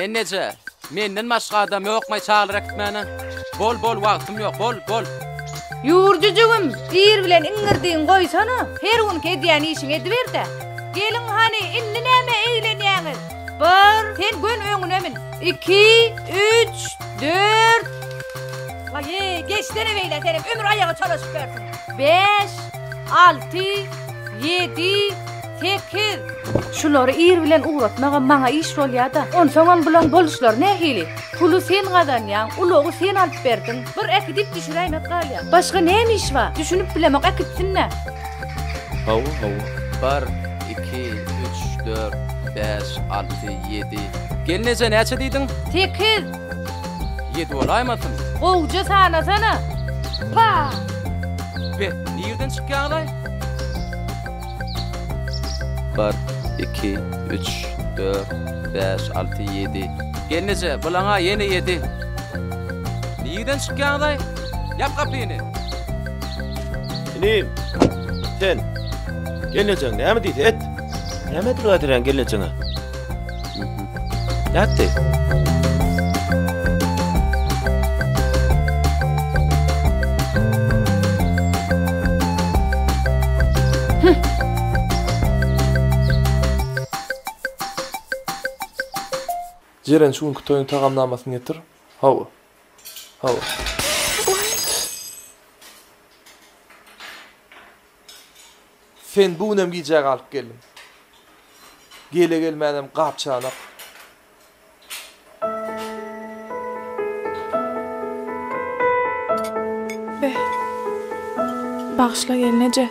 Enneje, menden başga adam ýokmaý çagyr äkitmäne? Bol, bol, wagtym ýok, bol, bol. Ýur, jüjügim, ir bilen iňňirdigiňi goýsana, her günki edýän işiňi ediber-de. Geliň hany, indi nämä eglenýäňiz? Bir, sen gön öňüne min. Iki, üç, dört. Waý-e, geçsene beýle, senem ömür aýaga çalyşyp ýörsüň. Bäş, alty, ýedi. Sekiz! Şulary ir bilen ugratmagam maňa iş bolýa-da. Onsoňam bulaň boluşlary nähili? Puly sen gazanýaň, ulagy sen alyp berdiň. Bir äkidip düşüräýmek galýa. Başga näme iş bar? Düşünip bilemok, äkitsin-dä. Hawa, hawa. Bir, iki, üç, dört, bäş, alty, ýedi. Gelneje näçe diýdiň? Sekiz! Ýedi bolaýmasyn? Gowja sanasana! Pah! Be, nirden çykýaňyz-aý? Bir, iki, üç, dört, bäş, alty, ýedi. Gelneje, bulaň-a ýene ýedi. Nirden çykýaňyz-aý? Ýap gapyny! Inim, sen, gelnejeň näme diýse et! Nämedir gaýdyrýaň gelnejeňe? Jeren şu günki toýuň tagamnamasyny getir. Hawa. Hawa. Sen bu günem gijä galyp geldiň. Gele-gelmänem gap-çanak. Beh. Bagyşla gelneje.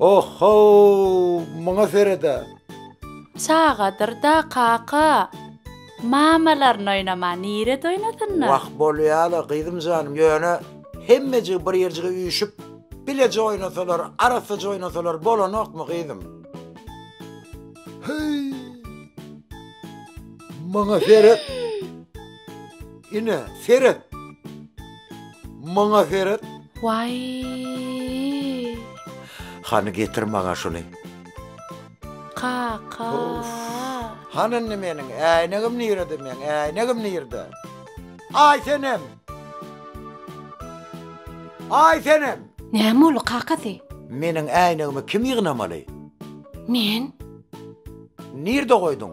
Oh-how, muňa seret-ä! Çagadyr-da, kaka. Mamalaryn oýnama, nirede oýnasynlar? Wah, bolýa-la, gyzym janym, ýöne hemmejigi bir ýerjige üýşüp, bileje oýnasalar, arassaja oýnasalar bolanokmy, gyzym? Heý, muňa seret! Ine, seret! Maňa seret. Waýýy. Hany getir maňa şuny. Kaka. Hany indi meniň äýnegim nirede meň äýnegim nirede? Aý senem. Aý senem. Näme boldy kakasy? Meniň äýnegimi kim ýygnamaly? Men. Nirede goýduň?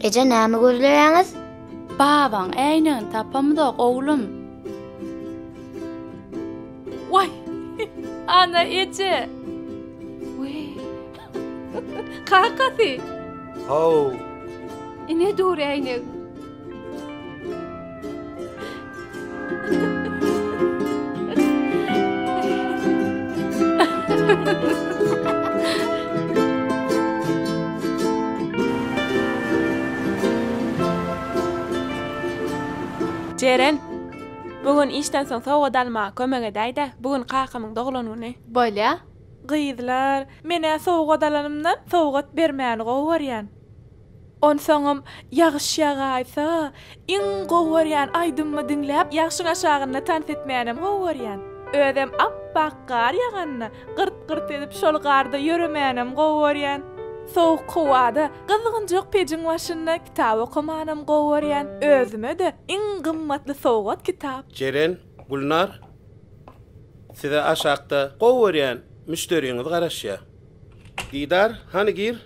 Eje näme gözleýäňiz? Babaň äýnegini tapamyzok, oglum. Waý! Ana eje! Kakasy. Haw. Ine dur äýnegim. Jeren, bu gün işden soň sowgat almaga kömek edäý-de, bu gün kakamyň doglan güni. Bolýa, Gyzlar, men-ä sowgat alanymdan sowgat bermäni gowy görýän. Onsoňam, ýagyş ýagaýsa, iň gowy görýän aýdymymy diňläp, ýagşyň aşagynda tans etmänem gowy görýän. Özem ap-ak gar ýaganda, gyrt-gyrt edip şol garda ýöremänem gowy görýän. Sowuk howada, gyzgynjak pejiň başynda kitap okamanam gowy görýän. Özüme-de iň gymmatly sowgat kitap. Jeren, Gülnar, size aşakda gowy görýän müşderiňiz garaşýar. Didar, hany gir.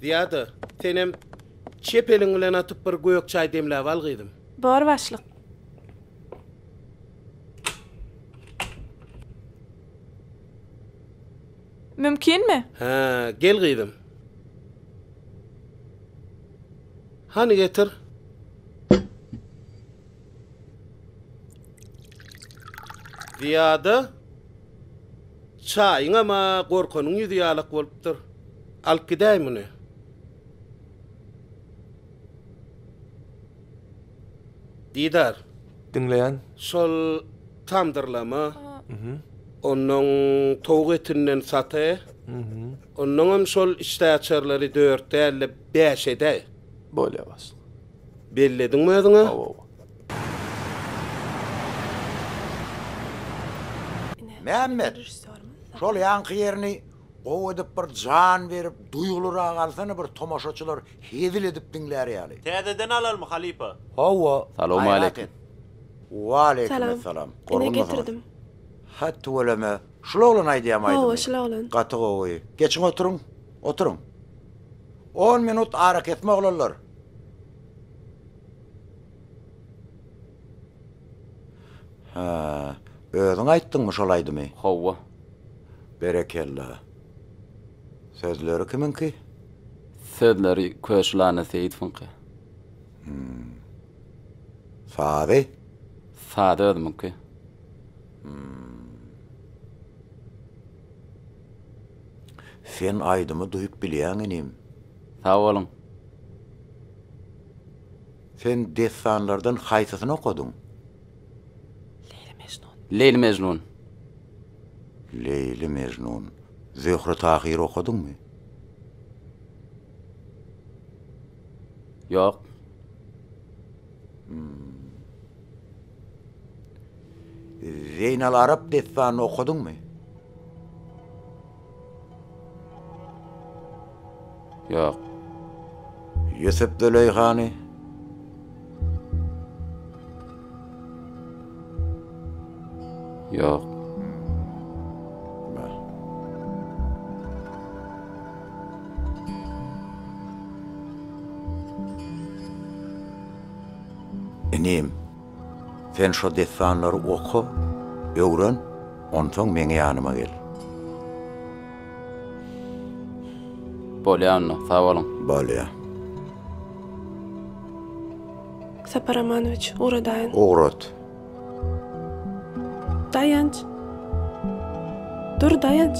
Zyýada, senem çep eliň bilen atyp bir gök çaý demläp al gyzym. Bor başlyk. Mümkinmi? Hä, gel gyzym. Hany getir. Zyýada çaýyňam-a gorkanyň ýüzi ýalak bolupdyr. Alyp gidäý muny. Didar. Diňleýän. Şol tamdyrlama. Onnoň towuk etinden saty. Onnoňam şol işdäaçarlary dört däl-de, bäş edäý. Bolýa, başlyk. Bellediňmi özüňe? Hawa-wa. Mämmet, şol ýaňky ýerini gowy edip bir jan berip, duýgulyrak alsana bir tomaşaçylar hezil edip diňlär ýaly. Täzeden alalmy, halypa? Hawa, gaýrat et. Salowmaleýkim. Waleýkimessalam. Gorgunmasaňyz. Hä, tüweleme. Şul oglan aýdýam aýdymy. Hawa şul oglan. Gaty gowy. Geçiň oturyň. Oturyň. On minut arakesme oglanlar. Hä. Özüň aýtdyňmy şol aýdymy? Hawa. Berekella. Sözleri kimiňki? Sözleri Köşlana Seýitwiňki. Hum. Sazy? Sazy özümiňki. Sen aýdymy duýup bilýäň inim. Sag boluň. Sen dessanlardan haýsysyny okadyň? Leýli Mejnun. Leýli Mejnun. Leýli Mejnun. Zöhre Tahyry okadyňmy? Ýok. Zeýnal Arap dessanyny okadyňmy? Ýok. Ýusup Züleýhany? Ýok. Inim. Sen şo dessanlary oka, öwren, onsoň meň ýanyma gel. Bolýa onda, sag boluň. Bolýa. Sapar Ramanowiç, ugradaýyn. Ugrat. Daýanç. Dur, Daýanç.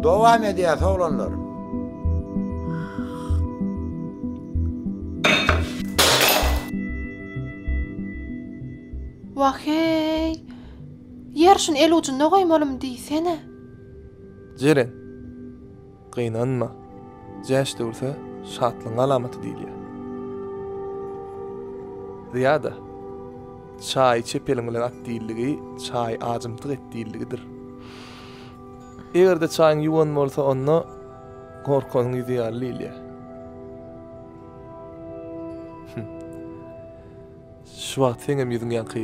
Dowam edýäs, oglanlar. Wah-eý! Ýer şuny el ujunda goýmalymy diýsene. Jeren, gynanma. Jäş döwürse şatlygyň alamaty diýilýär. Zyýada, Çaý içip eliň bilen at diýildigi çaý ajymtyk et diýildigidir. Eger-de çaýyň ýuwan bolsa, onda Gorkaň ýüzi ýaly Liliýa. Hümm. Şu wagt seňem ýüzüň ýaňky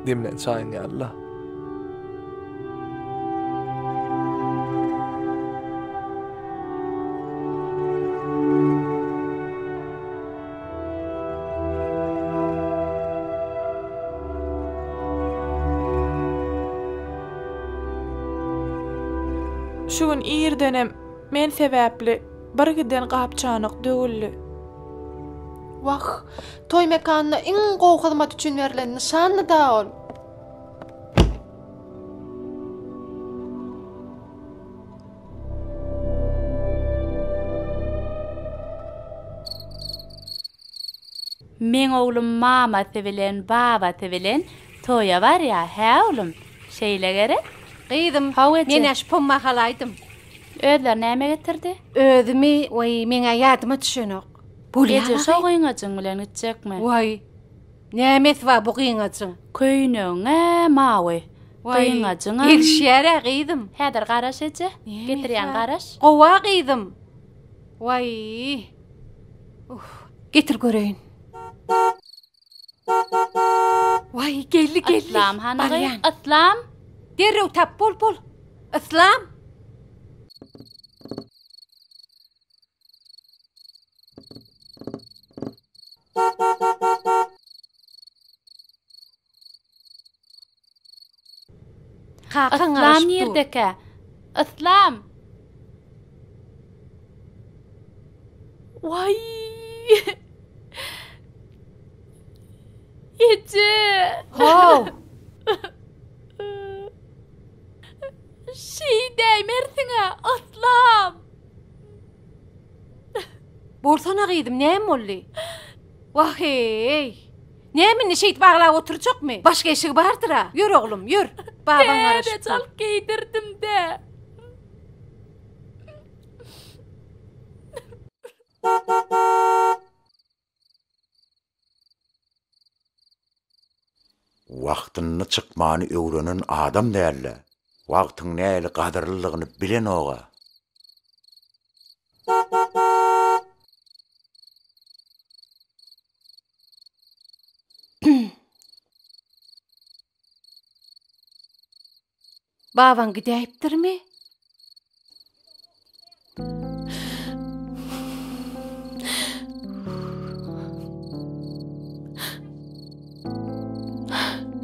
demlän çaýyň ýaly-la. Şu gün irdenem men sebäpli birgiden gap-çanak döwüldi. Wah, toý mekanyna iň gowy hyzmat üçin berlen nyşandy-da ol! Meň oglum mamasy bilen babasy bilen toýa barýa hä oglum şeýle gerek. Gyzym Haw eje. Menä şu pomma halaýdym. Özleri näme getirdi? Özümi waý meňä ýadyma düşenok. Bolýa Eje şo gyňajyň bilen gitjekmi? Waý. Nämesi bar bu gyňajyň? Köýnegiň-ä mawy. Gyňajyňam. Gelişýär-ä gyzym. Häzir garaş eje. Getirýän garaş. Gowa gyzym. Waý. Uh. Getir göreýin. Waý, geldi, geldi. Yslam hanagy? Yslam. Derrew tap, bol, bol. Yslam. Yslam nirdekä? Yslam! Waý! Eje! How! Şeýdäýmersiň-ä, Yslam! Borsana gyzym, näme boldy? Wah-eý! Näme indi şeýdip aglap oturjakmy? Başga eşigi bardyr-a. Ýör oglum, ýör. Babaň garaşypdyr. Dä, çalt geýdirdim-dä. Wagtynda çykmany öwrenen adam dälde, wagtyň nähili gadyrlydygyny bilenoga. Babaň gidäýipdirmi?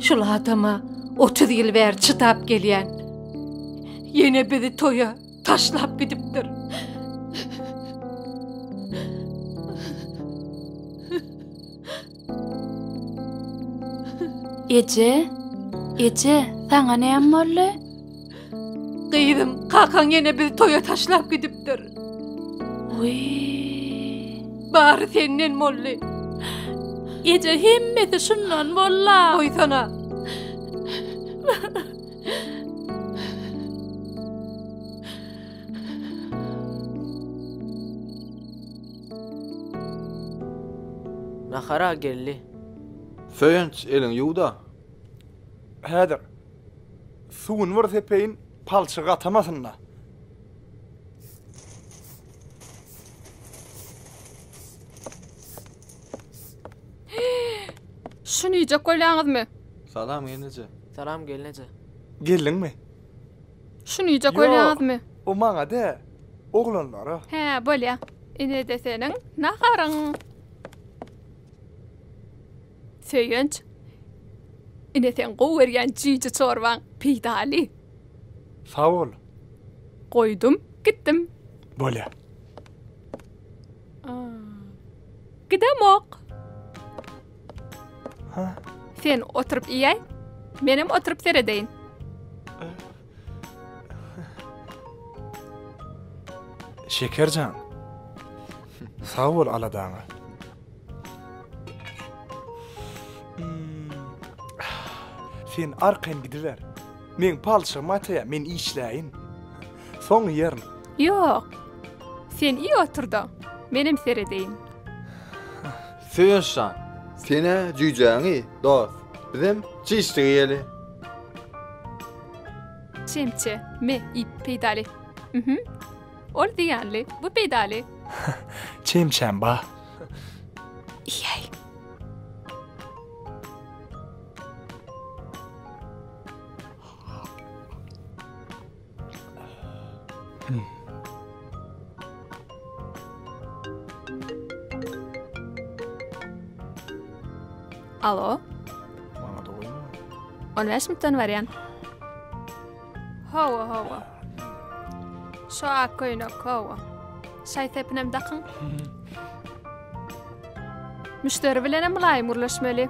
Şul adama 30 ýyl bäri çydap gelýän. Ýene bizi toýa taşlap gidipdir. Eje? Eje, saňa näme boldy? Gyzym, kakaň ýene bizi toýa taşlap gidipdir. Wiý! Bary senden boldy. Eje, hemmesi şundan bolla, goýsana. Nahara geldi. Söýenç, eliňi ýuw-da. Häzir. Suwuny bir sepeýin, palçygy gatamasyn-da. Şuny iýjek bolýaňyzmy? Salam, gelneje. Salam, gelneje. Geldiňmi? Şunyja görýäňizmi? Ýok, o maňa dä, oglanlara. Hä, bolýa. Ine-de seniň naharyň. Söýünç, ine seň gowy görýän jüýje çorbaň, peýdaly. Sag bol. Goýdum, gitdim. Bolýa. Gidemok. Sen oturyp iýäý, menem oturyp seredeýin. Şeker jan. Sag bol aladaňa. Sen arkaýyn gidiber. Men palçygymy ataýa, men işläýin. Soň iýerin. Ýok. Sen iý otur-da, menem seredeýin. Söýenç jan. Senä jüýjäňi dos. Bizem çiş diýeli. Çemçe, me, ip, peýdaly. Mhmm. Ol zyýanly, bu peýdaly. Çemçäm ba. Iýäý. Alo. Maňa da goýma. On beş minutdan barýan. Hawa, hawa. Şu ak köýnek, hawa. Şaý sepinem dakyň. Müşderi bilen hem mylaýym gürleşmeli.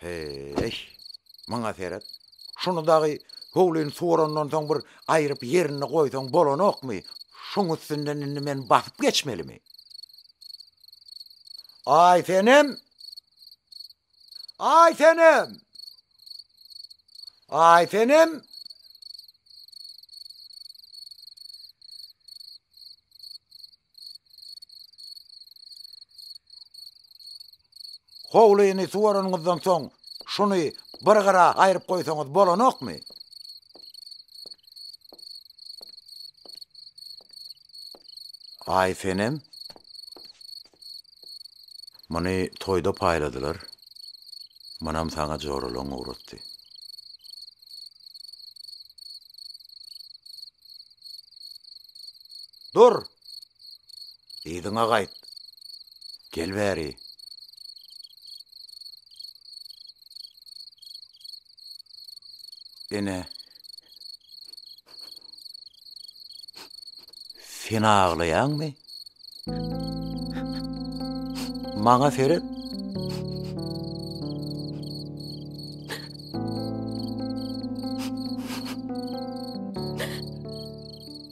Heý, maňa seret. Şuny dagy howlyny suwarandan soň bir aýryp ýerinde goýsaň bolanokmy? Şuň üstünden indi men basyp geçmelimi? Aý senem! Aý senem! Aý senem! Howlyny suwaranyňyzdan soň, şuny bir gyra aýryp goýsaňyz bolanokmy? Aýsenem. Muny toýda paýladylar. Munam saňa joralaň ugratdy. Dur! Yzyňa gaýt! Gel bäri! Ene. Sen aglaýaňmy? Maňa seret.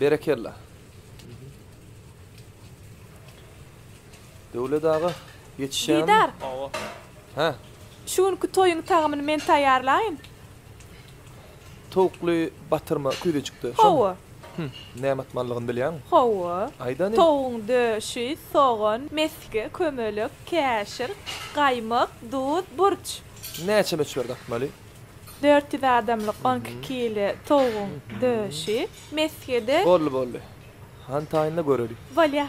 Berekella. Döwlet aga, ýetişýärmi? Didar. Hawa. Hä. Şu günki toýuň tagamyny men taýýarlaýyn. Towukly batyrma küýze çykdy. Şomy? Hawa. Hüm, näme atmalydygyny bilýäňmi? Hawa. Aýdany? Towugyň döşi, sogan, mesge, kömelek, käşir, gaýmak, duz, burç. Näçe möçberde atmaly? Dört ýüz adamlyk on iki kile towugyň döşi, mesgede. Boldy, boldy. Hany taýynla göreli. Bolýar.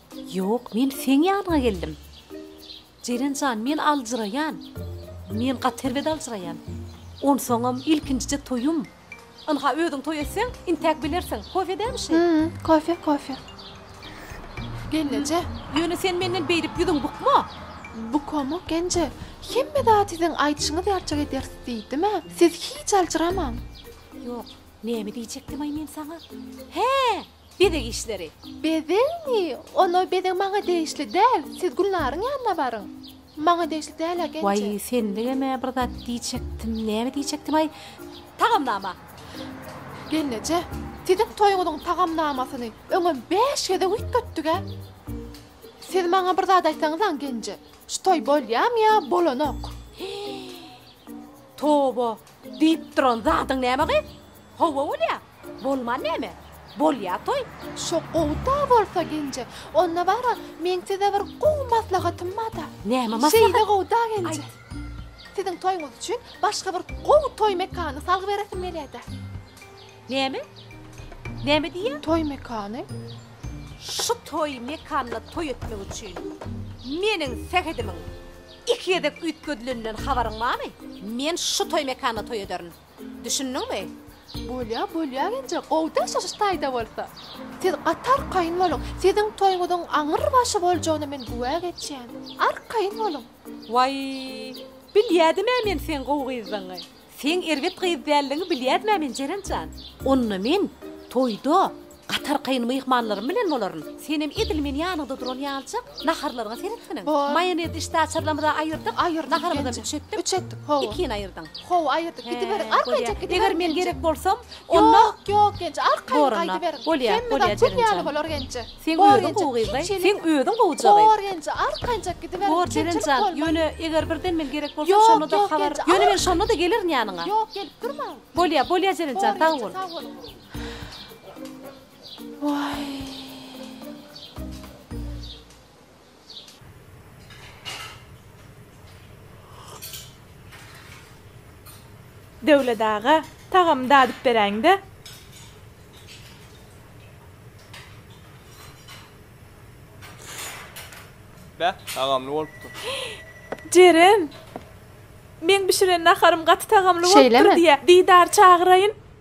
Ýok, men seň ýanyňa geldim. Jeren jan, men aljyraýan. Men gaty erbet aljyraýan. Onsoňam ilkinjije toýum. Ynha, özüň toý etseň, intäk bilersiň. Kofe dämi şi? Hä, kofe, kofe. Gelneje. Ýöne sen menden beýdip ýüzüň bukma. Bukamok, Genje. Hemme zady siziň aýdyşyňyz ýalyjak ederis diýdim-ä. Siz hiç aljyramaň. Ýok, näme diýjekdim-aý men saňa? Hä! Bezeg işleri. Bezegmi? Onda bezeg maňa degişli däl. Siz Gülnaryň ýanyna baryň. Maňa degişli däl ä Genje. Waý, senligem-ä bir zat diýjekdim. Näme diýjekdim-aý? Tagamnama. Gelneje, siziň toýuňyzyň tagamnamasyny öňem bäş gezek üýtgetdik-ä. Siz maňa bir zat aýtsaňyz-aň, Genje. Şu toý bolýamy ýa bolanok? Hii. Toba! Diýip duran zadyň näme gyz? Hawa bolýa. Bolman näme? Bolýa toý. Şo gowy-da bolsa Genje. Onda bar-a, meň size bir gowy maslahatym bar-da. Näme maslahat? Şeýle gowy-da Genje. Siziň toýuňyz üçin başga bir gowy toý mekanyny salgy beresim gelýä-de. Näme? Näme diýýä? Toý mekany. Şu toý mekanyna toý etmek üçin meniň sähedimiň Iki gezek üýtgedileninden habaryň barmy? Men şu toý mekanda toý ederin. Düşündiňmi? Bolýa, bolýa genje, gowy daşlaşyş taýda bolsa. Siz gaty arkaýyn boluň. Siziň toýuňyzyň aňyr başy boljagyna men güwä geçýän. Arkaýyn boluň. Waý, bilýädim-ä men seň gowy gyzdygyňy. Seň erbet gyz däldigiňi bilýärdim-ä men, Jeren jan. Onda men toýda gatarkaýyn myhmanlarym bilen bolaryn. Senem edil meni ýanyňda duran ýalyjak naharlaryňa seretseniň. Maýonez içdi, açyrlamyzy aýyrdyk. Aýyrdyk. Naharymyzam üç etdik. Üç etdik, hawa. Ikini aýyrdyň. Hawa, aýyrdyk. Gidiberiň, arkaýynjak gidiberiň. Eger men gerek bolsam, onda. Ýok, ýok, Genje, arkaýyn gaýdyberiň. Bolýar, bolýar, Jeren jan. Hemmezat gül ýaly bolar, Genje. Seň özüň gowy gyzday, seň özüň gowja gyz. Gorgenje, arkanjak gidiber. Gorjerenjan, ýöne eger birden men gerek bolsam şonda-da habar, ýöne men şonda-da gelerin ýanyňa. Ýok, gelip durmaň. Bolýa, bolýa Jerenjan, sag bol. Gorgenje, sag boluň. Waý. Döwlet aga, tagamy dadyp beräýiň-dä. Bä, tagamly bolupdyr. Jeren, meň bişiren naharym gaty tagamly bolupdyr diýýä. Şeýlemi? Didary çagyraýyn.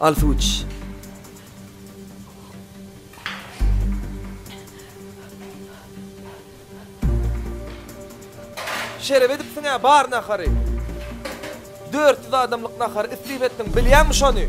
Al su iç. Şeref edipsiň ya bar nahary. 400 adamlyk nahary isrif etdiň, bilýäňmi şony?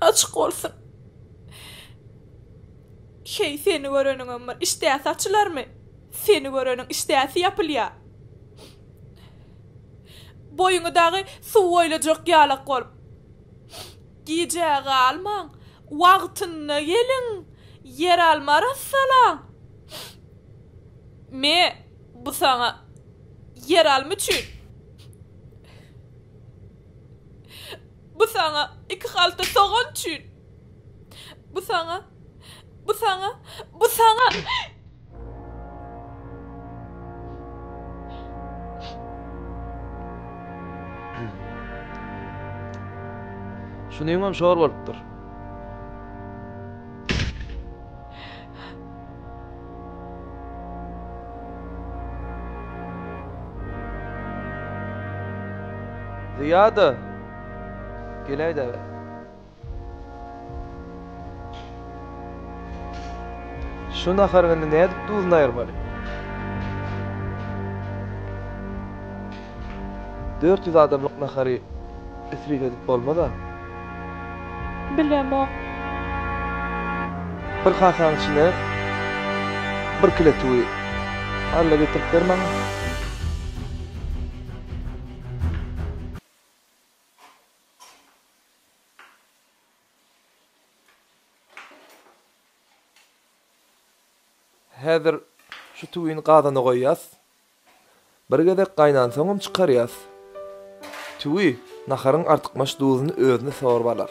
Açyk bolsun. Heý, seni göreniňem bir işdäsi açylarmy? Seni göreniň işdäsi ýapylýa. Boýuňy dagy suw oýlajak ýalak bolup. Gijä galmaň, wagtynda geliň, ýeralma arassalaň. Me, bu saňa ýeralma üçin. Bu saňa iki halta sogan üçin! Bu saňa! Bu saňa! Bu saňa! Şunyňam şor bolupdyr. Zyýada, geläýdä. Şu naharyň indi nädip duzuny aýyrmaly? Dört ýüz adamlyk nahary isrif edip bolmaz-a. Bilemok. Bir kasaň içine bir kile tüwi alla getirip ber maňa. Häzir şu tüwini gazana goýýas. Bir gezek gaýnansoňam çykarýas. Tüwi, naharyň artykmaç duzuny özüne sorup alar.